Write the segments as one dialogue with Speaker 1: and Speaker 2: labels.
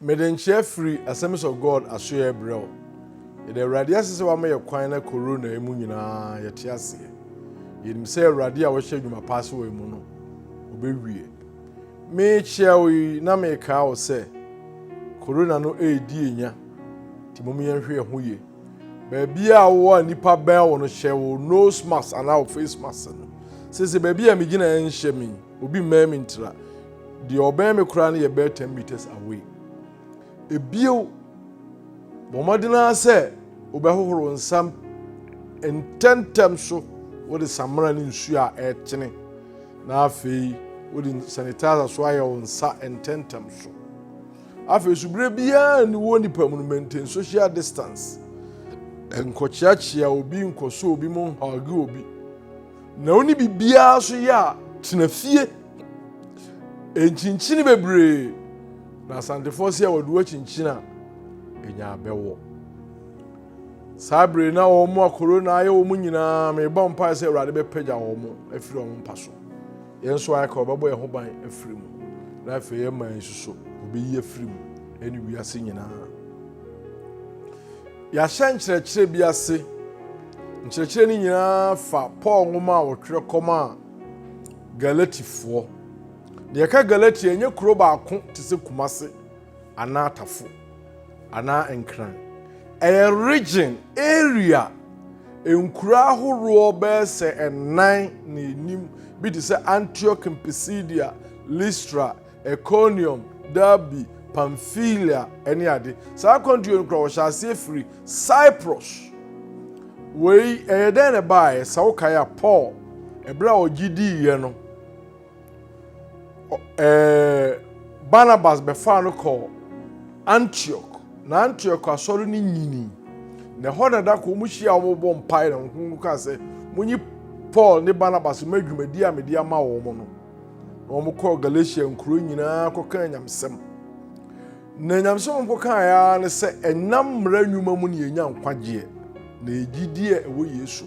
Speaker 1: Mede nkyea firi Assemblies of God asoeɛ rebrɛ wo. Yɛda Awurade ase sɛ wama yɛ kwan na Corona yi mu nyinaa yɛte aseɛ. Yɛnim sɛ Awurade a wahyɛ adwuma pa ase wɔ yɛn mu no, ɔbɛwie. Merekyea wo yi na merekaa wo sɛ Corona no redi yɛn nya, nti mom yɛnhwɛ yɛn ho yie. Baabi a wowɔ a nnipa bɛn wo no hyɛ wo nose mask anaa wo face mask no. Sese baabi a megyina nhyɛ me, obi mmɛn me ntira. Deɛ ɔbɛn me koraa no yɛ bɛyɛ ten meters away. Ebio, bɔ mmɔden ara sɛ wobɛhohoro nsam ntɛmntɛm so wode samena ne nsuo a ɛretene na afei wode sanitizer so ayɛ wo nsa ntɛmntɛm so. Afei nso berɛ biara nni wɔ nipa mu no maintain social distance. Nkɔkyeakyea obi, nkɔsɔ obi mu nhage obi. Na wo ne biribiara so yɛ a, tena fie. Nkyinkyini bebree na asantefoɔ sɛ wɔde wo akyinkyini a, ɛnya abɛwɔ. Saa bere na wɔn mu akoro na ayɛ wɔn nyinaa, mebɔ mpae sɛ Awurade bɛpagya wɔn mu afiri wɔn mpa so. Yɛn nso ayɛ ka wɔbɛbɔ yɛn ho ban afiri mu. Na afei yɛn man nso so, wɔbɛyi afiri mu ɛne wiase nyinaa. Yɛahyɛ nkyerɛkyerɛ bi ase. Nkyerɛkyerɛ no nyinaa fa Paul nwoma a ɔtwerɛ kɔmaa Galatifoɔ. Deɛ ɛka Galatia ɛnyɛ kuro baako te sɛ Kumase anaa Tafo anaa Nkran. Ɛyɛ region, area, nkuro ahoroɔ bɛyɛ sɛ ɛnan na ɛnim bi te sɛ Antioch, Pisidia, Listra, Ikonium, Derbe, Pamfilia ne ade. Saa akwantuo no kora wɔhyɛ aseɛ firi Cyprus. Wei ɛyɛ dɛn na ɛbaeɛ? Sɛ wokae a Paul ɛberɛ a ɔgye diiɛ no ɛɛ Barnabas bɛfaa no kɔɔ Antioch na Antioch asɔre no nyini na ɛhɔ na da kɔ wɔn hyia wɔn bɔ mpae na wɔn kaa sɛ monyi Paul ne Barnabas ma dwumadi a mede ama wɔn no. na wɔkɔɔ galatia nkuro nyinaa kɔkaa nyamesɛm na nyamesɛm a wɔkɔkaeɛ ara ne sɛ ɛnam mmara nnwuma mu ne yɛnya nkwagyeɛ na ɛgyidie a ɛwɔ yesu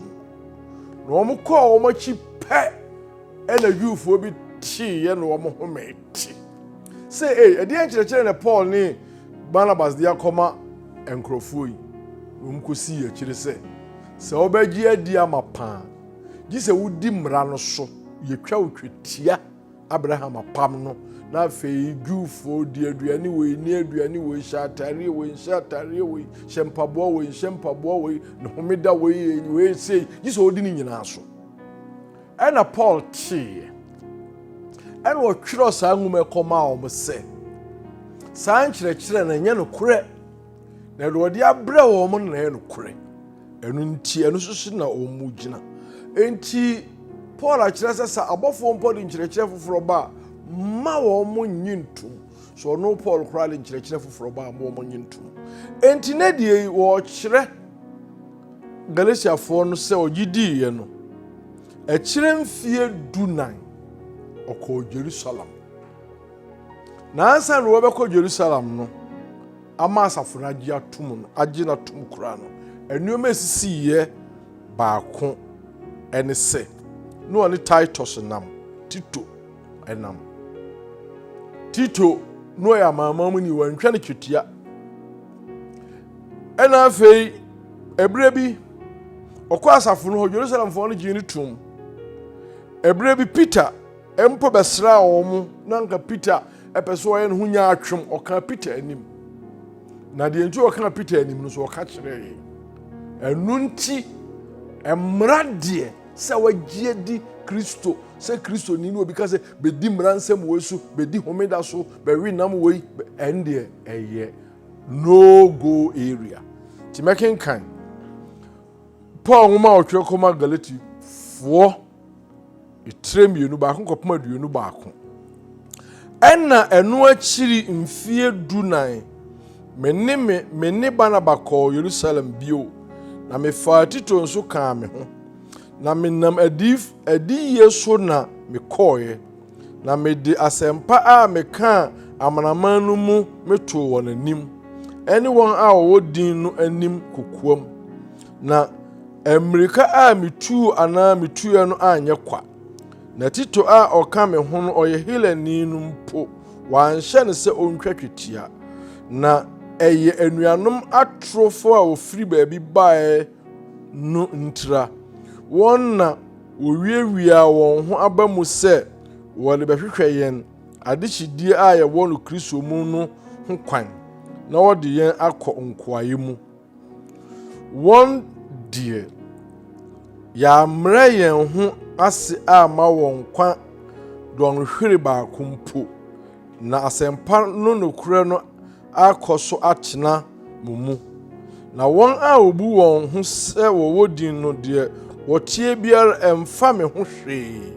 Speaker 1: mu na wɔkɔɔ wɔn akyi pɛ ɛna juufoɔ bi teeɛ na wɔn ho mɛte sɛ ei ɛdeɛ nkyerɛkyerɛ na paul ne barnabas de akɔma nkurɔfoɔ yi na wɔkɔsii akyire sɛ sɛ wɔbɛgye adi ama paa gye sɛ wodi mmara no so. Yɛtwa wo twetia Abraham apam no, na afei Jewfoɔ di aduane wei, nni aduane wei, hyɛ atareɛ wei, nhyɛ atareɛ wei, hyɛ mpaboa wei, nhyɛ mpaboa wei, ne homeda wei, yɛ wei sei, gye sɛ ɔdi ne nyinaa so. Ɛna Paul teeɛ, ɛna ɔtwerɛ saa nwoma ɛkɔmaa wɔn sɛ, saa nkyerɛkyerɛ no ɛnyɛ nokorɛ. Na deɛ ɔde abrɛ wɔn no na ɛyɛ nokorɛ. Ɛno nti, ɛno nso so na wɔn mu gyina. Enti, Paul akyerɛ sɛ sɛ abɔfoɔ mpo de nkyerɛkyerɛ foforɔ ba a, mma wɔn mo nye ntom. So ɔno Paul koraa de nkyerɛkyerɛ foforɔ ba a, mma wɔn mo nye ntom. Enti, na deɛ yi wɔrekyerɛ Galatiafoɔ no sɛ ɔgye diiɛ no, ɛkyerɛ mfeɛ dunan ɔkɔɔ Jerusalem. Na ansa na wɔbɛkɔ Jerusalem no, ama asafo no agye atom no, agye no atom koraa no, nneɛma a esisiiɛ baako ne sɛ, na ɔne Titus nam, Tito nam. Tito na ɔyɛ amanaman mu ni, wɔanhwɛ no twetia. Ɛna afei, ɛberɛ bi, ɔkɔ asafo no hɔ, Jerusalemfoɔ no gyee no tom. Ɛberɛ bi, Peter mpo bɛsraa wɔn na anka Peter pɛ sɛ ɔyɛ ne ho nyaatwem, ɔkaa Peter anim. Na deɛ nti ɔkaa Peter anim no so ɔka kyerɛɛ yɛn. Ɛno nti, mmara deɛ sɛ wagye adi Kristo sɛ Kristoni no obi ka sɛ bɛdi mmara nsɛm wei so, bɛdi homeda so, bɛwe nam wei, ɛn deɛ ɛyɛ no go area. Nti mɛkenkan Paul nwoma a ɔtwerɛ kɔma Galatifoɔ. tire mmienu baako kɔpem aduonu baako ɛna ɛno akyiri mfie du nan me ne me me ne banaba kɔɔ yerusalem bio na mefaa tito nso kaa me ho na menam adi adiyie so na mekɔɔeɛ na mede asɛmpa a mekaa amanaman no mu metoo wɔn anim ɛne wɔn a wɔwɔ din no anim kokoam Na mmirika a mituu anaa mituiɛ no anyɛ kwa. Na Tito a ɔka me ho no, ɔyɛ Helani no mpo, wɔanhyɛ no sɛ ɔntwa twetia. Na ɛyɛ anuanom atorofo a wɔfiri baabi baeɛ no ntira. Wɔn na wɔwiawiaa wɔn ho aba mu sɛ wɔde bɛhwehwɛ yɛn adehyedie a yɛwɔ no Kristo mu no ho kwan na wɔde yɛn akɔ nkoayɛ mu. Wɔn deɛ, yɛammrɛ yɛn ho ase amma wɔn nkwa dɔnhwere baako mpo, na asɛmpa no nokorɛ no akɔ so atena mo mu. Na wɔn a wɔbu wɔn ho sɛ wɔwɔ din no, deɛ wɔteɛ biara, ɛmfa me ho hwee.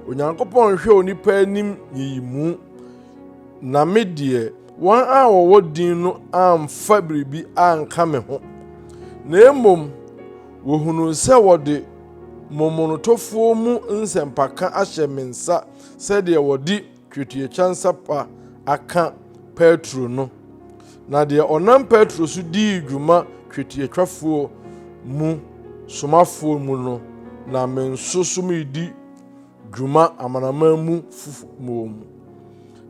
Speaker 1: Onyankopɔn nhwɛ onipa anim nyiyimu, na me deɛ, Wɔn a wɔwɔ din no amfa biribi anka me ho, na mmom wɔhunuu sɛ wɔde momonotofoɔ mu nsɛmpaka ahyɛ me nsa sɛdeɛ wɔde twetiatwa nsa pa aka Petro no. Na deɛ ɔnam Petro so dii dwuma twetiatwafoɔ mu somafoɔ mu no, na me nso so meredi dwuma amanaman mu foforo wɔ mu.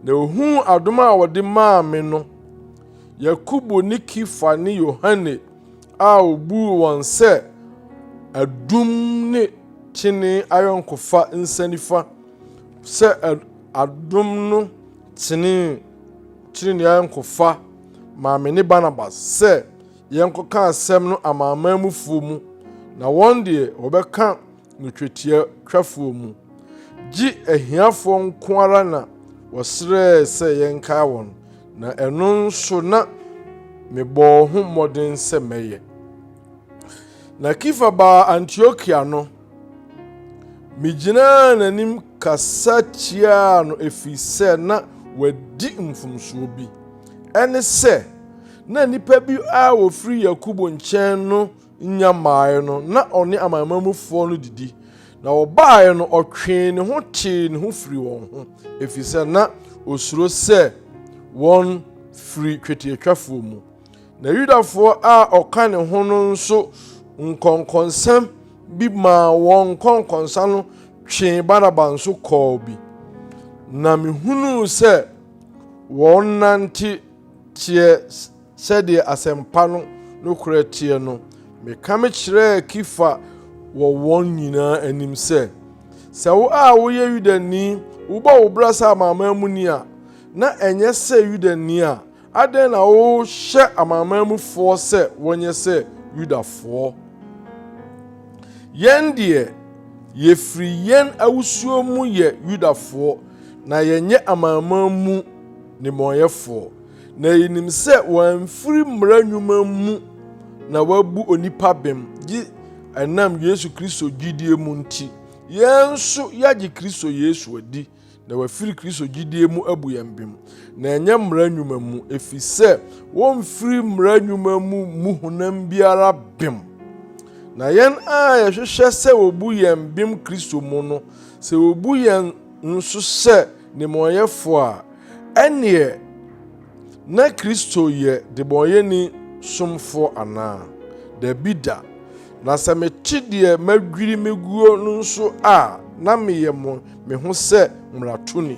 Speaker 1: Na ohuu adom a wɔde maa me no. Yakobo ne Kifa ne Yohane a obuu wɔn sɛ adum ne kyene ayɔnkofa nsa nifa sɛ adom no tenee kyene ne ayɔnkofa maa me ne Barnabas sɛ yɛnkɔka asɛm no amanaman mufoɔ mu, na wɔn deɛ wɔbɛka no twetia twafoɔ mu, gye ahiafoɔ nko ara na wɔsrɛɛ sɛ yɛnkae wɔn, na ɛno nso na mebɔɔ ho mmɔden sɛ mɛyɛ. Na Kifa baa Antiokia no, megyinaa n'anim kasa tiaa no ɛfiri sɛ na wadi mfomsoɔ bi. Ɛne sɛ, na nnipa bi a wɔfiri Yakobo nkyɛn no nnya mmaeɛ no, na ɔne amanaman mufoɔ no didi, na wɔbaeɛ no ɔtwee ne ho tee ne ho firi wɔn ho, ɛfiri sɛ na ɔsuro sɛ wɔn firi twetiatwafoɔ mu. Na Yudafoɔ a ɔka ne ho no nso nkɔnkɔnsɛm bi maa wɔn nkɔnkɔnsa no twee Barnaba nso kɔɔ bi. Na mehunuu sɛ wɔnante teɛ Sɛdeɛ asɛmpa no nokorɛ teɛ no, mekame kyerɛɛ Kefa wɔ wɔn nyinaa anim sɛ, Sɛ wo a woyɛ Yudani wobɔ wo bra sɛ amanaman muni a, na ɛnyɛ sɛ Yudani a, adɛn na wohyɛ amanaman mufoɔ sɛ wɔnyɛ sɛ Yudafoɔ? Yɛn deɛ, yɛfiri yɛn awosuo mu yɛ Yudafoɔ, na yɛnyɛ amanaman mu nnebɔneyɛfoɔ. Na yenim sɛ wɔamfiri mmara nnwuma mu na wɔabu onipa bem, gye ɛnam Yesu Kristo gyidie mu nti. Yɛn nso yɛagye Kristo Yesu adi, na wɔafiri Kristo gyidie mu abu yɛn bem, na ɛnyɛ mmara nnwuma mu, ɛfiri sɛ wɔmfiri mmara nnwuma mu mmu honam biara bem. Na yɛn a yɛhwehwɛ sɛ wɔbu yɛn bem Kristo mu no, sɛ wɔbu yɛn nso sɛ nnebɔneyɛfoɔ a, ɛnneɛ na Kristo yɛ debɔneyɛni somfoɔ anaa? Dabi da! Na sɛ mete deɛ madwiri me guo no nso a, na meyɛ mo me ho sɛ mmaratoni.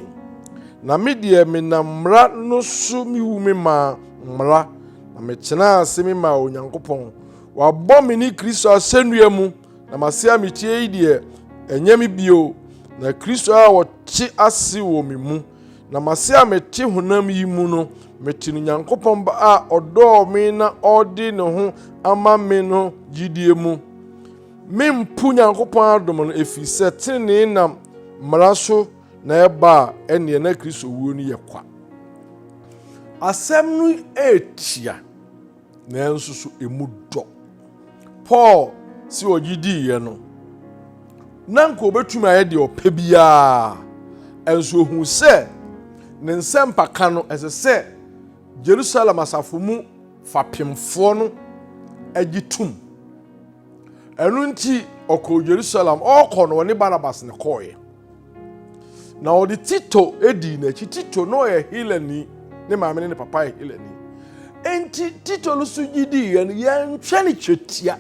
Speaker 1: Na me deɛ menam mmara no so mewu me maa mmara, na metenaa ase me maa Onyankopɔn. Wabɔ me ne Kristo asɛnnua mu, Na mase a metie yi deɛ, ɛnyɛ me bio, na Kristo a ɔte ase wɔ me mu. Na mase a mete honam yi mu no, mete no Nyankopɔn Ba a ɔdɔɔ me na ɔde ne ho ama me no gyidie mu. Mempo Nyankopɔn adom no, ɛfiri sɛ tenenee nam mmara so na ɛba a, ɛnneɛ na Kristo wuo no yɛ kwa. Asɛm no ɛretia. nanso so emu dɔ. Paul si ɔgye diiɛ no, na nka obetumi ayɛ deɛ ɔpɛ biara, nso ohu sɛ ne nsɛmpa ka no ɛsɛ sɛ Jerusalem asafo mu fapemfoɔ no gye tum. Ɛno nti ɔkɔɔ Jerusalem, ɔkɔ no ɔne Barnabas na ɛkɔɔeɛ. na ɔde tito dii n'akyi tito na ɔyɛ helani ne maame ne ne papa yɛ helani enti tito no so gye dii yɛn yɛntwɛ ne twetia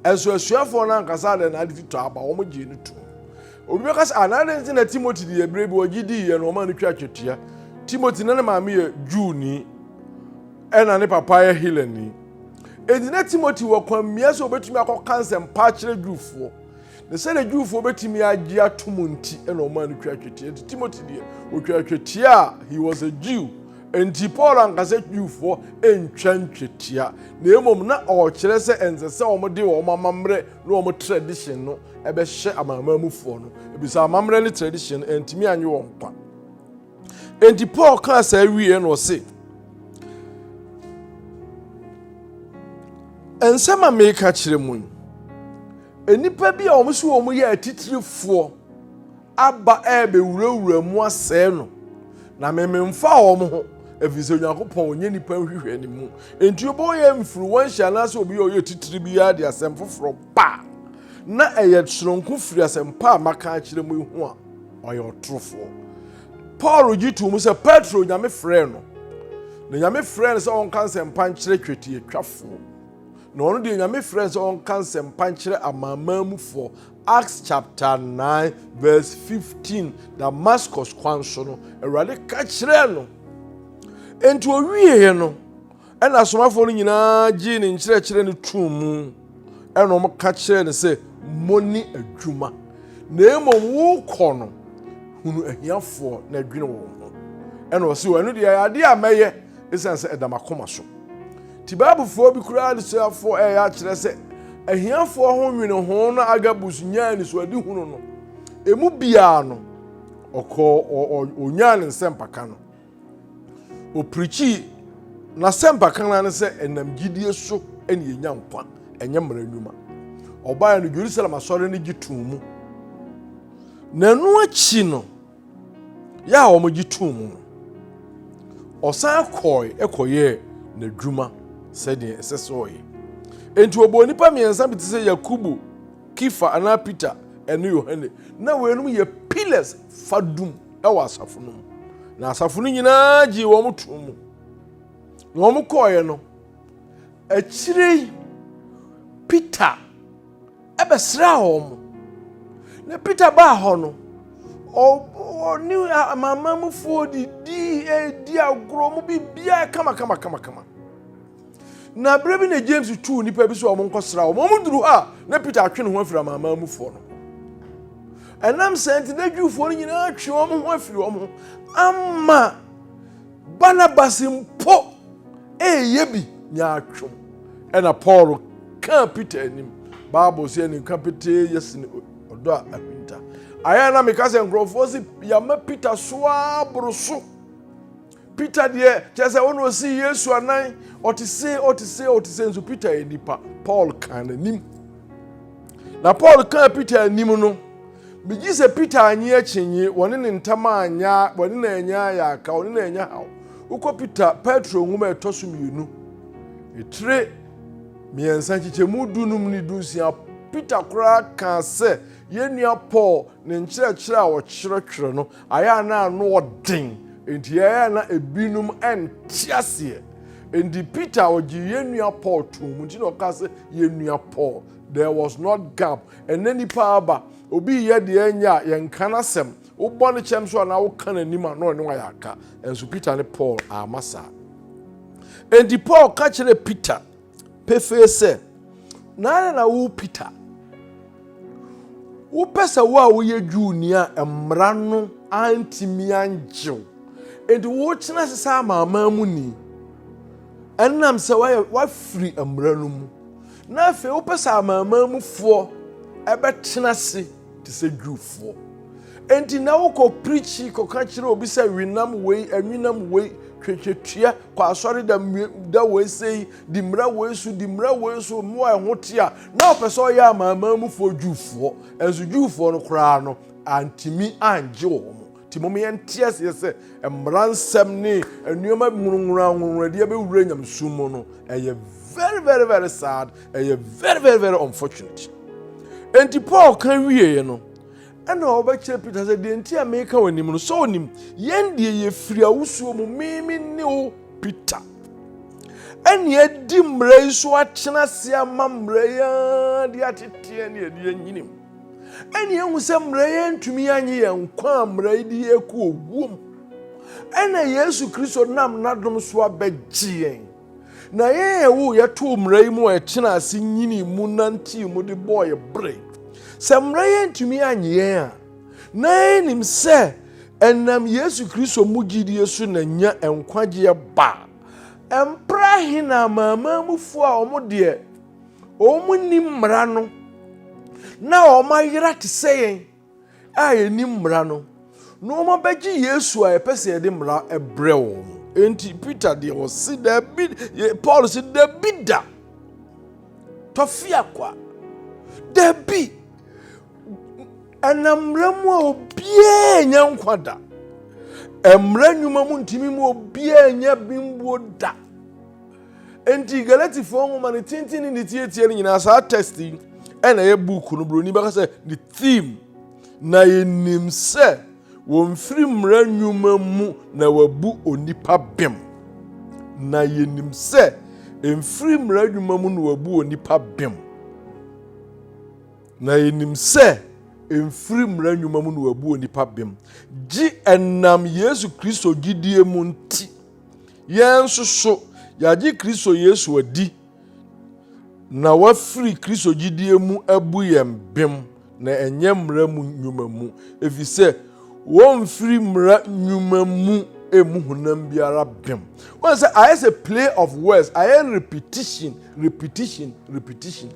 Speaker 1: ɛnso asuafoɔ no ankasa adɛ na ade tito aba wɔn gyee no to obi bɛka sɛ anaadɛ nti na timothy de yɛ berɛ bi ɔgye dii yɛn wɔn a no twa twetia timothy na ne maame yɛ juuni ɛna ne papa yɛ helani enti na timothy wɔ kwan mmea sɛ ɔbɛtumi akɔka nsɛmpa akyerɛ juufoɔ Na sɛdeɛ Jewfoɔ bɛtumi agye atom nti na ɔmaa no twaa twetia. Nti Timothy deɛ, ɔtwaa twetia a he was a Jew. Nti Paul anka sɛ Jewfoɔ ntwa ntwetia, na mmom na ɔrekyerɛ sɛ ɛnsɛ sɛ wɔde wɔn amammerɛ ne wɔn tradition no bɛhyɛ amanaman mufoɔ no, ebisa amammerɛ ne tradition no antumi anwe wɔn nkwa. Nti Paul kaa saa wieɛ na ɔse, nsɛm a meka kyerɛ mu yi, Nnipa bi a wɔn so wɔn yɛ atitirifoɔ aba ɛrebɛwurawura mu asɛe no, na mememfa wɔn ho, ɛfiri sɛ Onyankopɔn ɔnyɛ nnipa nhwehwɛ ne mu. Enti wobɛwɔ yɛ mfiriwanhyɛ anaasɛ obi a ɔyɛ titiri biara de asɛm foforɔ ba a, na ɛyɛ soronko firi asɛmpa a maka akyerɛ mu yi ho a, ɔyɛ ɔtorofoɔ. Paul gye too mu sɛ Petro Nyame frɛɛ no, na Nyame frɛɛ no sɛ ɔnka nsɛmpa nkyerɛ twetiatwafoɔ. Na ɔno deɛ Nyame frɛ no sɛ ɔnka nsɛmpa nkyerɛ amanaman mu foɔ. Acts chapter 9 verse 15 Damascus kwan so no, Awurade ka kyerɛɛ no. Enti ɔwieeɛ no, ɛna asomafoɔ no nyinaa gyee ne nkyerɛkyerɛ no too mu. Ɛna wɔn ka kyerɛɛ no sɛ, mo ne adwuma. Na mmom wokɔ no, hunu ahiafoɔ na adwene wɔn ho. Ɛna ɔse, ɛno deɛ ɛyɛ adeɛ a mɛyɛ, ɛsiane sɛ ɛda m'akoma so. Tibabfoɔ bi koraa anisoafoɔ reyɛ akyerɛ sɛ ahiafoɔ ho nwene ho no Agabus nyaa anisoadehunu no. Emu biara no, ɔkɔɔ ɔnyaa ne nsɛmpaka no. Ɔpirikyii n'asɛmpaka no ne sɛ ɛnam gyidie so na yɛnya nkwa, ɛnyɛ mmara nnwuma. Ɔbaeɛ no, Jerusalem asɔre no gye too mu. Na ɛno akyi no, yɛ a wɔgye too mu no, ɔsan kɔe kɔyɛɛ n'adwuma sɛdeɛ ɛsɛ sɛ ɔyɛ. Enti wɔbɔɔ nnipa mmiɛnsa bi te sɛ Yakobo, Kefa anaa Peter ne Yohane. Na weinom yɛ pillars fadum wɔ asafo no mu. Na asafo no nyinaa gyee wɔn too mu. Na wɔkɔeɛ no, akyire yi Peter bɛsraa wɔn. Na Peter baa hɔ no, ɔne amanaman mufoɔ didi di agorɔ mu biribiara kamakamakamakama. Na berɛ bi na James tuu nnipa bi sɛ wɔn nkɔsra wɔn. Wɔn duru hɔ a, na Peter atwe ne ho afiri amanaman mufoɔ no. Ɛnam sɛ nti na Jewfoɔ no nyinaa atwe wɔn ho afiri wɔn ho ama Barnabas mpo reyɛ bi nyaatwom. Ɛna Paul kaa Peter anim. Bible sɛ ɛne nka petee yɛ sene ɔdɔ a ahwinta. Ayɛ na meka sɛ nkurɔfoɔ si yɛama Peter so ara boro so. Peter deɛ kyerɛ sɛ ɔno ɔsi Yesu anan ɔte se ɔte se ɔte se nso Peter yɛ nipa. Paul kaa n'anim. Na Paul kaa Peter anim no Megye sɛ Peter annye akyinnye, wɔne ne ntam anyɛ, wɔne no anyɛ ayaka, wɔne no anyɛ haw. Wokɔ Peter, Petro nwoma ɛtɔ so mmienu, etire mmiɛnsa nkyekyɛmu dunum ne dunsia, Peter koraa kaa sɛ yɛn nua Paul ne nkyerɛkyerɛ a ɔkyerɛkyerɛ no ayɛ a na ano ɔden, enti ayɛ a na ebinom nte aseɛ. Enti Peter ɔgye yɛn nua Paul too mu, nti na ɔkaa sɛ yɛn nua Paul. There was not gap. Ɛnɛ nipa aba, obi reyɛ deɛ ɛnyɛ a yɛnka n'asɛm. Wobɔ ne kyɛm so anaa woka n'anim a na ɔne wayɛ aka. Nso Peter ne Paul ama saa. Enti Paul ka kyerɛ Peter pefee sɛ, Naana na wo Peter. Wopɛ sɛ wo a woyɛ Jewni a mmara no antumi angyew. Enti wokyena ase sɛ amanaman mu ni. Ɛnam sɛ wafiri mmara no mu. Na afei wopɛ sɛ amanaman mufoɔ bɛtena ase te sɛ Jewfoɔ. Enti na wokɔ pirikyi kɔka kyerɛ obi sɛ wenam wei, anwenam wei, twetwetua, kɔ asɔre da, da wei sei, di mmara wei so, di mmara wei so, mmoa ɛho te a, na ɔpɛ sɛ ɔyɛ amanaman mufoɔ Jewfoɔ. Ɛnso Jewfoɔ no koraa no, antumi angye wɔn. Nti mom yɛnte aseɛ sɛ mmara nsɛm ne nneɛma nwonwonwa nwonwonwadeɛ bɛwura nyamesom mu no ɛyɛ very very very sad ɛyɛ very very very unfortunate enti paul ka wieɛ no ɛna ɔbɛkyerɛ peter sɛ deɛ nti a meka w'anim no sɛ ɔnim yɛn deɛ yɛfiri awosuo mu meme ne wo peter ɛne adi mmara yi so akyena se ama mmara yi ara de ateteɛ ne ɛde anyinim ɛne ehu sɛ mmara yi antumi anye yɛn nkwa a mmara yi de yɛn kɔ owuo mu. Ɛna Yesu Kristo nam n'adom so abɛgye yɛn. Na yɛn a ɛwo yɛtoo mmara yi mu a ɛkyena ase nyinii mu nantee mu de bɔɔ yɛ bere. Sɛ mmara yi antumi anye yɛn a, na yɛnim sɛ ɛnam Yesu Kristo mu gyidie so na nya nkwagyeɛ baa. Ɛmpere ahe na amanamanmufoɔ a wɔn deɛ Wɔn nni mmara no, na wɔn ayera te sɛ yɛn a yɛnni mmara no, na wɔn abɛgye Yesu a yɛpɛ sɛ yɛde mmara brɛ wɔn no. Enti Peter deɛ ɔse dabi, Paul se dabi da, tɔfeako a, dabi, ɛnam mmara mu a obiara nya nkwa da. Mmara nnwuma mu ntumi mu obiara nya bimbuo da. Enti Galatifoɔ nwoma no tenten ne ne tietie no nyinaa saa text yi ɛna ɛyɛ book no buroni bɛka sɛ ne theme na yɛnim sɛ wɔmfiri mmara nnwuma mu na wabu onipa bem na yɛnim sɛ mfiri mmara nnwuma mu na wabu onipa bem na yɛnim sɛ mfiri mmara nnwuma mu na wabu onipa bem gye ɛnam yesu kristo gyidie mu nti Yɛn nso so, yɛagye Kristo Yesu adi na wafiri Kristo gyidie mu abu yɛn bem na ɛnyɛ mmara mu nnwuma mu, ɛfiri sɛ wɔmfiri mmara nnwuma mu ɛmu honam biara bem. Wɔn sɛ ayɛ sɛ play of words, ayɛ repetition, repetition, repetition.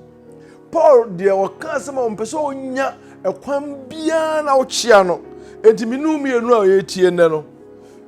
Speaker 1: Paul deɛ ɔka asɛm a ɔmpɛ sɛ ɔnya ɛkwan biara na ɔkyea no, enti mene mmienu a ɔyɛ tie nnɛ no.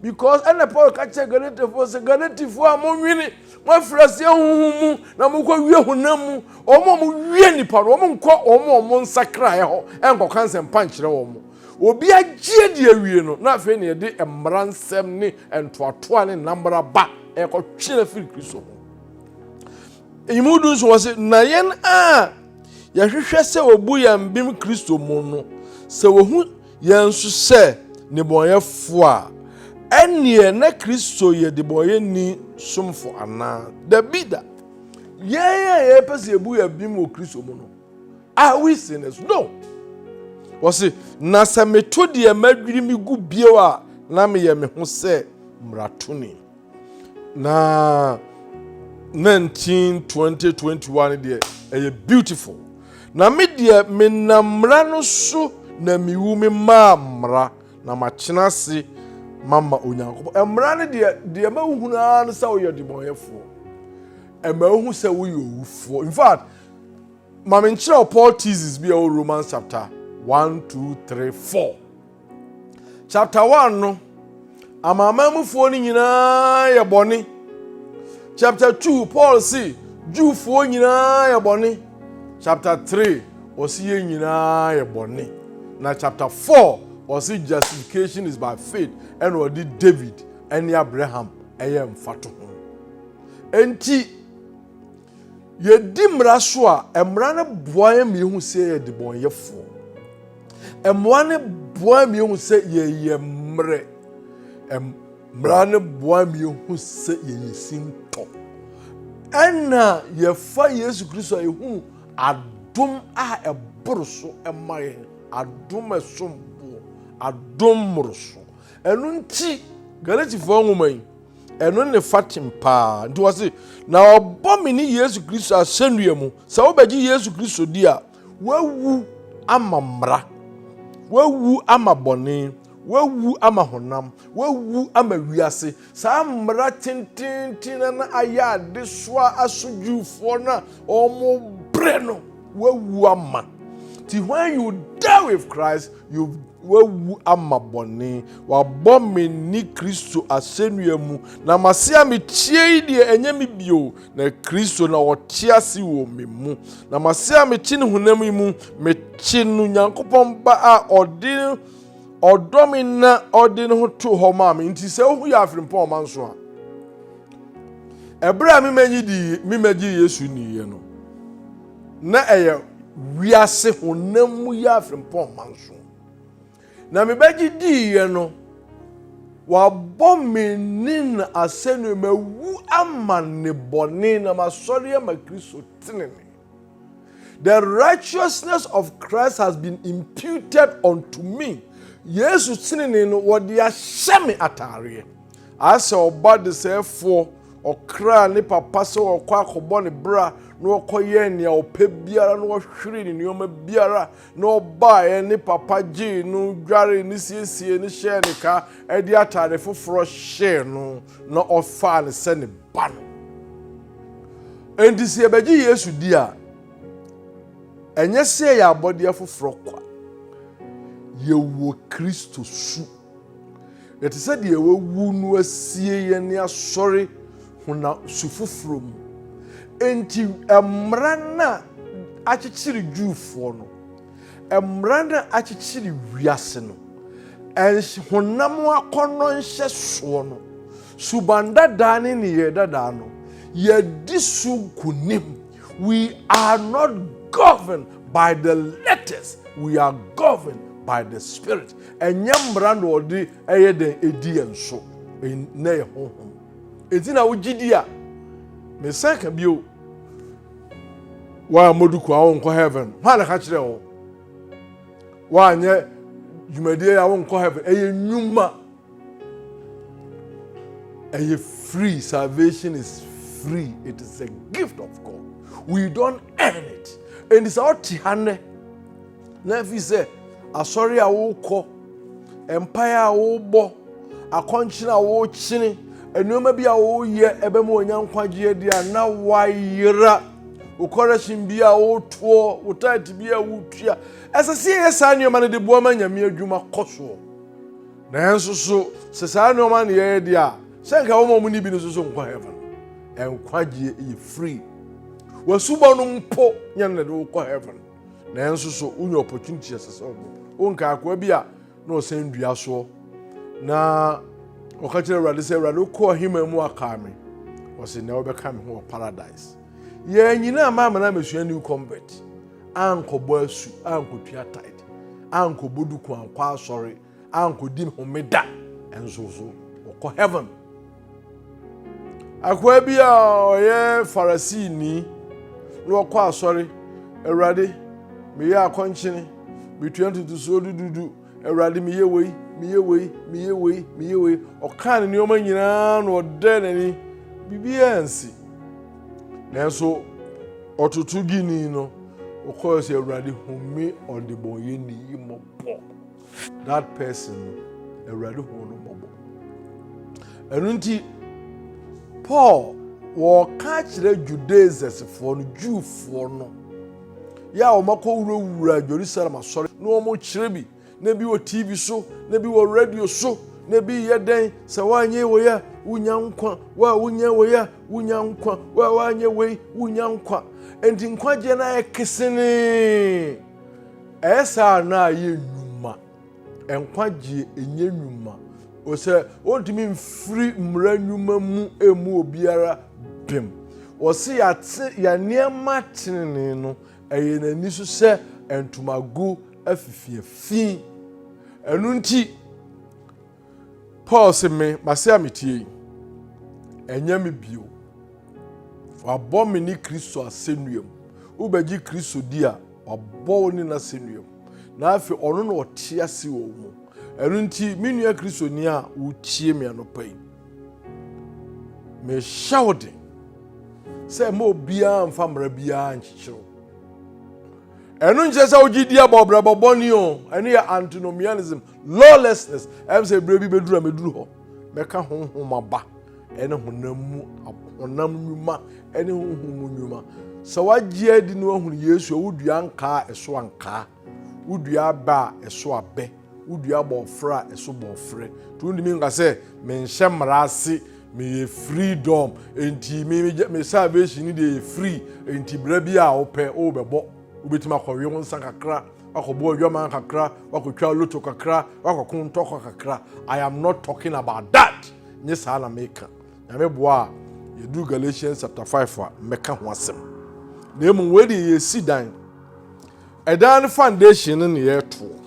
Speaker 1: Because ɛna Paul ka kyerɛ Galatifoɔ sɛ Galatifoɔ a monwene moafiri aseɛ honhom mu na mokɔ wie honam mu wɔn a mowie nipa no wɔn nkɔ wɔn a wɔn nsakraeɛ hɔ ɛnkɔka nsɛmpa nkyerɛ wɔn obi agyeɛ de awie no na afei na yɛde mmara nsɛm ne ntoatoa ne nnamra ba ɛkɔtwe no afiri kristo ho ɛyimu du nso wɔ se na yɛn a yɛhwehwɛ sɛ wɔbu yɛn bem kristo mu no sɛ wɔhu Yɛn nso sɛ nnebɔneyɛfo a, ɛnneɛ na Kristo yɛ nnebɔneyɛni somfo anaa? Dabi da. Yɛn a yɛpɛ sɛ yɛbu yɛn abim wɔ Kristo mu no, are we sinners? No. Wɔse, na sɛ meto deɛ madwiri me gu bio a, na meyɛ me ho sɛ mmaratoni. na 192021 deɛ ɛyɛ beautiful na me deɛ menam mmara no so na mewu me maa mmara na makyena ase mama onyankopɔn mmara no deɛ deɛ mahunu ara no sɛ woyɛ demɔyɛfoɔ ɛma wohu sɛ woyɛ owufoɔ in fact ma menkyerɛ wo paul teases bi a ɛwɔ romans chapter 1 2 3 4 Chapter one no, amanaman mufoɔ no nyinaa yɛ bɔne. Chapter two, Paul si Jewfoɔ nyinaa yɛ bɔne. Chapter three, ɔsi yɛ nyinaa yɛ bɔne. Na chapter four, ɔsi justification is by faith ɛna ɔde David ɛne Abraham ɛyɛ mfato ho. Enti Yɛdi mmara so a, mmara no boa yɛn ma yɛhu sɛ yɛyɛ debɔnyɛfoɔ. Mmoa no boa yɛn ma yɛhu sɛ yɛyɛ mmerɛ. Mmara no boa yɛn ma yɛhu sɛ yɛyɛ sintɔ. Ɛna yɛfa Yesu Kristo a yɛhunu adom a ɛboro so ma yɛn, adom a ɛsom boɔ, adom mmoroso. Ɛno nti, Galatifoɔ nwoma yi, ɛno ne fatem paa nti wɔ se na ɔbɔ me ne yesu kristo asɛnnua mu sɛ wobɛgye yesu kristo di a wawu ama mmara wawu ama bɔne wawu ama honam wawu ama wiase saa mmara tententen na ayɛ adesoa asodwufoɔ no a wɔbrɛ no Wawu ama. Ti when you die with Christ, you wawu ama bɔne. Wabɔ me ni Kristo asɛnnua mu. Na mase a metie yi deɛ ɛnyɛ me bio, na Kristo na ɔte ase wɔ me mu. Na mase a mete ne honam yi mu, mete no Nyankopɔn ba a ɔde ɔdɔ me na ɔde ne ho too hɔ maa me. Nti sɛ wohu yɛ afirimpɔn ɔmanso a, Ɛberɛ a memɛnyi di memɛgye Yesu nniiɛ no, na ɛyɛ wiase honam mu yɛ afempɔn mma nso. Na mebɛgye diiɛ no, wabɔ me ne no asɛnnua, mawu ama ne bɔne na masɔre ama Kristo tenene. The righteousness of Christ has been imputed unto me. Yesu tenene no wɔde ahyɛ me ataareɛ. Asɛ ɔba desɛɛfoɔ ɔkra ne papa sɛ ɔkɔ akɔbɔ ne bra na ɔkɔyɛ nea ɔpɛ biara na ɔhwere ne nneɛma biara na ɔbaeɛ ne papa gyee no dware ne siesie ne hyɛɛ ne ka de ataare foforɔ hyɛɛ no na ɔfaa no sɛ ne ba no. Enti sɛ yɛbɛgye Yesu di a, ɛnyɛ sɛ yɛyɛ abɔdeɛ foforɔ kwa. Yɛwɔ Kristo su. Yɛte sɛ deɛ wawu no asie yɛn ne asɔre honam su foforɔ mu. Enti mmara no a akyekyere Jewfoɔ no, Mmara no a akyekyere wiase no, honam akɔnnɔ nhyɛsoɔ no, suban dadaa ne nneyɛɛ dadaa no, yɛadi so nkonim. We are not governed by the letters, we are governed by the spirit. Ɛnyɛ mmara na ɔde ɛyɛ dɛn ɛdi yɛn so, na yɛ honhom. Ɛti na wogye di a, mesan ka bio, woammɔdu kwan a wonkɔ heaven hwan na ka kyerɛ wo woanyɛ dwumadie a wonkɔ heaven ɛyɛ nnwuma ɛyɛ free salvation is free it is a gift of god we don't earn it ɛnti sɛ wote ha nnɛ Na ɛfiri sɛ asɔre a wokɔ mpaeɛ a wobɔ akɔnkyene a wokyene nneɛma bi a woyɛ ɛbɛma wɔnya nkwagyeɛ deɛ a na wayera wokɔrɛhyen bi a wotoɔ wo taate bi a wotua ɛsɛ sɛ yɛyɛ saa nneɛma no de boa ma nyame adwuma kɔ soɔ nanso so sɛ saa nneɛma no yɛyɛ deɛ a sɛ nka wɔma ɔmo ne bi no so so nkɔ heaven nkwagyeɛ yɛ free wasubɔ no mpo nyɛ no de wokɔ heaven nanso so wonya opportunity ɛsɛ sɛ ɔbɔ wonka akoa bi a na ɔsɛn dua soɔ na ɔka kyerɛ awurade sɛ awurade wokɔɔ hema mu akaa me ɔse nea wobɛka me ho wɔ paradise yɛn nyinaa maa me na mesua new convert ankɔbɔ asu ankɔtua tide ankɔbɔ duku ankɔ asɔre ankɔdi homeda nso so wɔkɔ heaven akoa bi a ɔyɛ farisini na wɔkɔ asɔre awurade meyɛ akɔnkyene metua ntotosoɔ dududu awurade meyɛ wei meyɛ wei meyɛ wei meyɛ wei ɔkaa ne nneɛma nyinaa na ɔdɛ n'ani biribiara nsi nanso ɔtoto gini no ɔkɔɔ sɛ awurade home ɔdebɔnyɛni yi mmɔbɔ that person no awurade hu no mmɔbɔ ɛno nti paul wɔka kyerɛ judaisesfoɔ no jewfoɔ no yɛ a wɔakɔ wurawura jerusalem asɔre na wɔkyerɛ bi na bi wɔ tv so na bi wɔ radio so na bi yɛ dɛn sɛ woanyɛ wei a wonya nkwa wo a wonyɛ wei a wonya nkwa wo a woanyɛ wei wonya nkwa enti nkwagyeɛ no ayɛ kesenee Ɛyɛ saa na ayɛ nnwuma. Nkwagyeɛ ɛnyɛ nnwuma. Ɔsɛ ɔntumi mfiri mmara nnwuma mu ɛmu obiara bem. Ɔse yɛate yɛ nneɛma tenenee no ɛyɛ n'ani so sɛ ntomago afifiafi. Ɛno nti, Paul se me, mase a metie yi, ɛnyɛ me bio. Wabɔ me ne Kristo asɛnnua mu. Wobɛgye Kristo di a, wabɔ wo ne no asɛnnua mu. Na afei ɔno na ɔte ase wɔ wo mu. Ɛno nti, me nua Kristoni a wotie me anɔpa yi, mehyɛ wo den sɛ ma obiara mfa mmara biara nkyekyere wo. Ɛno nkyerɛ sɛ wogye di abɔbrabɔ bɔne o, ɛno yɛ antinomianism, Lawlessness, ɛm sɛ berɛ bi bɛduru a mɛduru hɔ, mɛka honhom aba ɛne honam mu honam nnwuma ɛne honhom mu nnwuma. Sɛ wagye adi na wahunu Yesu a, wodua nkaa a ɛso ankaa, wodua abɛ a ɛso abɛ, wodua bɔɔfrɛ a ɛso bɔɔfrɛ. Nti wontumi nka sɛ menhyɛ mmara ase, meyɛ freedom, nti me, me, me salvation ne deɛ yɛ free, nti berɛ bi a wopɛ wobɛbɔ, wobɛtumi akɔwe wo nsa kakra, Wakɔbɔ adwaman kakra, wakɔtwa loto kakra, wakɔko ntɔkwa kakra. I am not talking about that. Nye saa na meka. Nyame boa a, yɛduru Galatians chapter 5 a, mɛka ho asɛm. Na mmom wei deɛ yɛsi dan. Ɛdan no foundation no na yɛtoɔ.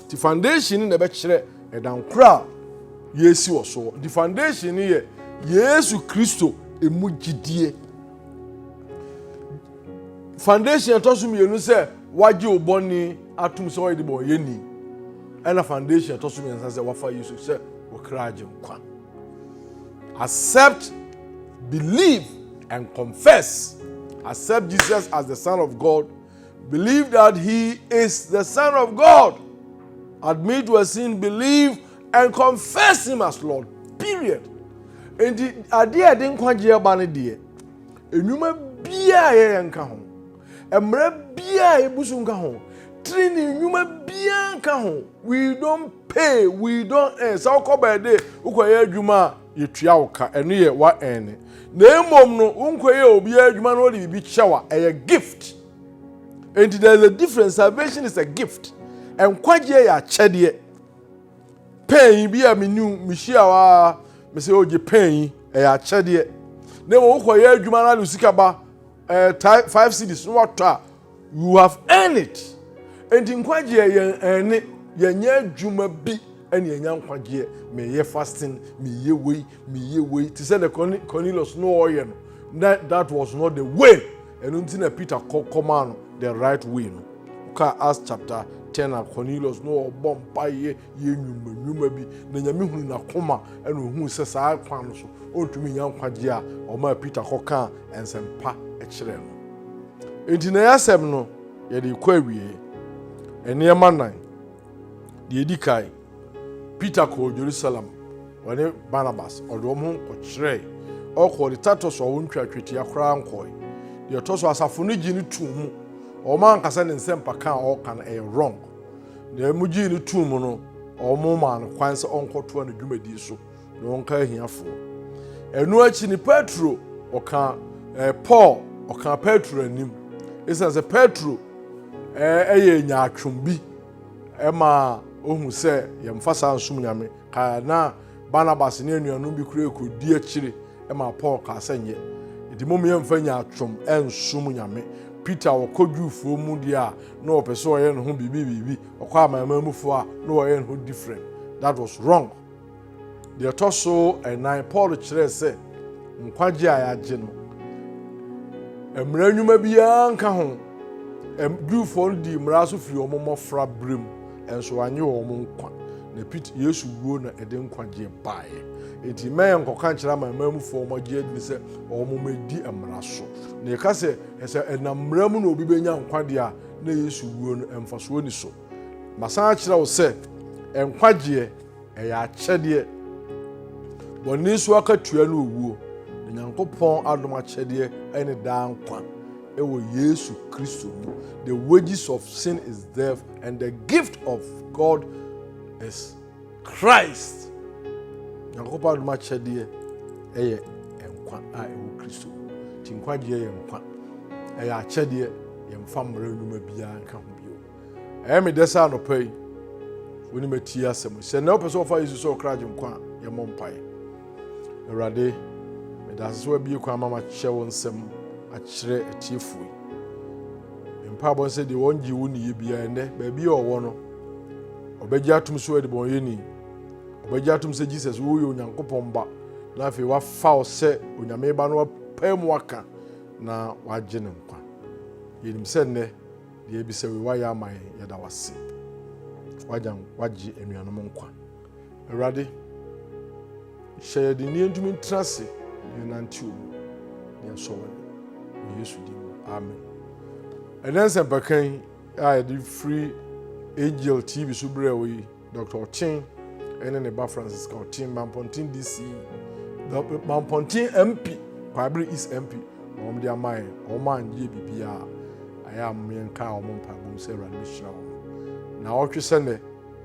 Speaker 1: Nti foundation no na ɛbɛkyerɛ ɛdan koro a yɛsi wɔ so. Nti foundation no yɛ Yesu Kristo ɛmu gyidie. Foundation ɛtɔ so mmienu sɛ Wagye wo bɔne atom sɛ ɔyɛ de bɔ ɔyɛ ni. Ɛna foundation ɛtɔ so mmiɛnsa sɛ wafa Yesu sɛ ɔkra agye nkwa. Accept, believe and confess. Accept Jesus as the son of God. Believe that he is the son of God. Admit your sin, believe and confess him as Lord. Period. Enti adeɛ a ɛde nkwagyeɛ ba no deɛ, nnwuma biara a yɛyɛ nka ho. Mmara biara a ebu so nka ho. Trenee nnwuma biara nka ho. We don't pay, we don't earn. Sɛ wokɔ baabi wokɔyɛ adwuma a, yɛtua wo ka. Ɛno yɛ wa earn. Na mmom no, wonkɔyɛ obiara adwuma na ɔde biribi kyɛ wa. Ɛyɛ gift. Enti there is a difference. Salvation is a gift. Nkwagyeɛ yɛ akyɛdeɛ. Pɛn yi bi a menu mehyia wa mesɛ ogye pɛn yi ɛyɛ akyɛdeɛ. Na mmom wokɔyɛ adwuma na de sika ba ɛɛ five cities na watɔ a you have earned it nti nkwagyeɛ yɛn ɛne yɛnyɛ adwuma bi ɛne yɛnya nkwagyeɛ meyɛ fasting meyɛ wei meyɛ wei te sɛ the cornelius no ɔyɛ no na that was not the way ɛno nti na peter kɔ kɔmaa no the right way no ka as chapter ten a cornelius no ɔbɔ mpaeɛ yɛ nnwuma nnwuma bi, na Nyame hunu n'akoma na ohuu sɛ saa kwan no so ɔntumi nya nkwagyeɛ a ɔmaa Peter kɔkaa nsɛmpa kyerɛɛ no. Enti na yɛasɛm no yɛde rekɔ awieɛ. Nneɛma nan. Deɛ ɛdi kan, Peter kɔɔ Jerusalem ɔne Barnabas ɔde wɔn ho kɔkyerɛɛ ɔkɔɔ de Titus a wɔntwa twetia koraa nkɔe. Deɛ ɛtɔ so asafo no gye no too mu wɔn ankasa ne nsɛmpa ka a ɔreka no ɛyɛ wrong. Nea mugyee no too mu no, wɔmaa no kwan sɛ ɔnkɔtoa ne dwumadi so na ɔnka ahiafoɔ. Ɛno akyi ne Petro ɔka eh, Paul ɔka Petro anim. Ɛsiane sɛ Petro eh, ɛyɛ nyaatwom bi ɛma ohu sɛ yɛmfa saa nsom Nyame. Na Barnabas ne anuanom bi koraa rekɔdi akyire maa Paul kaa sɛ, Nyɛ, enti mom yɛmfa nyaatwom nsom Nyame. Peter ɔkɔ Jewfoɔ mu deɛ a, na ɔpɛ sɛ ɔyɛ ne ho biribi biribi, ɔkɔ Amanamanmufoɔ a, na wayɛ ne ho different. That was wrong. Deɛ ɛtɔ so ɛnan, Paul kyerɛɛ sɛ nkwagye a yɛagye no, mmara nnwuma biara nka ho. Jewfoɔ no dii mmara so firi wɔn mmɔfra berɛ mu. Nso wanyɛ wɔn nkwa. Na Pete, Yesu wuo na ɛde nkwagyeɛ baeɛ. Enti mma yɛn nkɔka nkyerɛ amanman mufoɔ a wɔagye adini sɛ wɔn mmɛdi mmara so. Na yɛka sɛ, sɛ ɛnam mmara mu na obi bɛnya nkwa deɛ a, na Yesu wuo no mfasoɔ nni so. Masan akyerɛ wo sɛ, nkwagyeɛ, ɛyɛ akyɛdeɛ. Bɔne so akatua ne owuo, na Nyankopɔn adom akyɛdeɛ ne daa nkwa wɔ Yesu Kristo mu. The wages of sin is death, And the gift of God is Christ. Nyankopɔn adom akyɛdeɛ ɛyɛ nkwa a ɛwɔ Kristo. Ti nkwagyeɛ yɛ nkwa. Ɛyɛ akyɛdeɛ yɛmfa mmerɛ nnwuma biara nka ho bio. Ɛyɛ me dɛ sɛ anɔpa yi wone matie asɛm sɛ na wopɛ sɛ wɔfa Yesu sɛ ɔkra gye nkwa a yɛmmɔ mpaeɛ. Awurade meda ase sɛ wabie kwan ma makyerɛ wo nsɛm akyerɛ atiefoɔ yi. Ne mpaabɔ ne sɛ deɛ wɔn gye wo niyɛ biara ɛnɛ, baabi a ɔwɔ no, ɔbɛgye atom so ɛdebɔnyɛni. Ɔbɛgye atom sɛ Jesus, wo yɛ Onyankopɔn ba, na afei wafa wo sɛ Onyame ba no wapɛ mu aka na wagye ne nkwa. Yɛnim sɛ nnɛ, deɛ ɛbisɛ wei wayɛ ama yɛn, yɛda wase. Wagye anuanom nkwa. Awurade, hyɛ yɛn den na yɛntumi ntena ase na yɛnante wo mu na yɛasɔ w'ani. Wɔ Yesu din mu, amen. Ɛnɛ nsɛmpakan yi a yɛde firi Angel TV so berɛ wɔ yi, Dr. Ɔkyen ne ne ba Francisca Ɔkyen, Mampɔnten DC, Mampɔnten MP, Kwaabere East MP, na wɔn de ama yɛn, wɔn a nyɛ biribiara, ayɛ a yɛnka wɔn mpaebɔ mu sɛ Awurade bɛhyira wɔn. Na ɔtwe sɛ nnɛ,